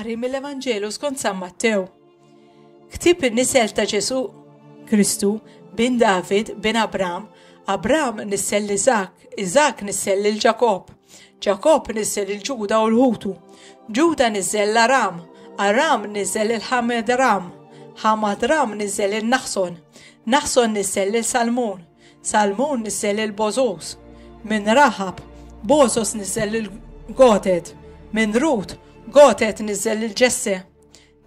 Qari mill-Evanġelu skont San Mattew. Ktib in-nisel ta' Ġesu Kristu bin David bin Abram, Abram nissel l-Izak, Izak nissel l-Ġakob. Ġakobb niżżel il-Ġuda u l-ħutu. Ġuda niżżel l-Aram. Aram niżżel il-Ħamedram. Ħamadram niżżel il-Naħson. Naħson niżżel lil Salmun. Salmun niżżel il-Bożos. Minn Raħab, Bożos niżżel il-Gotet. Minn Rut, Gotet niżżel il-Ġesse.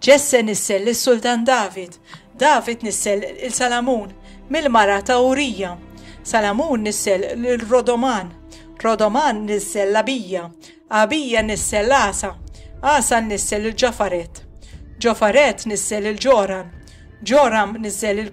Ġesse nissel lis-Sultan David, David nissel 'il Salamun mill-mara ta' Urija, Salamun nissel 'il Rodoman, Rodoman nissel 'l Abija, Abija nissel 'l Għasa, Għasa nissel 'il Ġofaret, Ġofaret nissel 'il Ġoram, Ġoram nissel 'il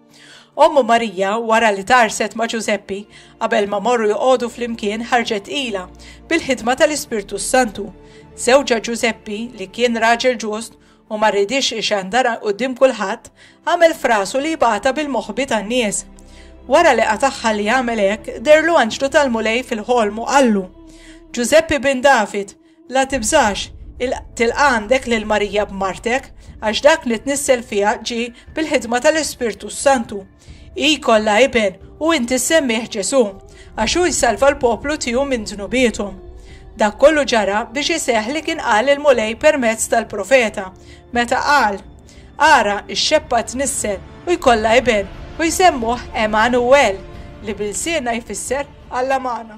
Ommu Marija, wara li tarset ma' Ġużeppi, qabel ma morru joqogħdu flimkien ħarġet ila bil-ħidma tal-Ispirtu s-Santu. Żewġa Ġużeppi, li kien raġel ġust u ma rridix ixandara quddiem kulħadd, għamel frasu li jibgħatha bil-moħbi tan-nies. Wara li qatagħha li jagħmel hekk, derlu anġlu tal-Mulej fil-ħolm u qallu, Ġużeppi bin David, La tibżax, tilqa' għandek lil Marija b'martek, għax dak li tnissel fiha ġie bil-ħidma tal-Ispirtu s-Santu. Hi kollha iben u inti semmih Ġesù, għax hu jsalva l-poplu tiegħu minn dnubiethom. Dak kollu ġara biex iseħħ li kien qal il-Mulej permezz tal-profeta, meta qal, Ara, ix-xebba tnissel u jkollha iben u jsemmuh Emanuwel, li bil-siena jfisser Alla magħna.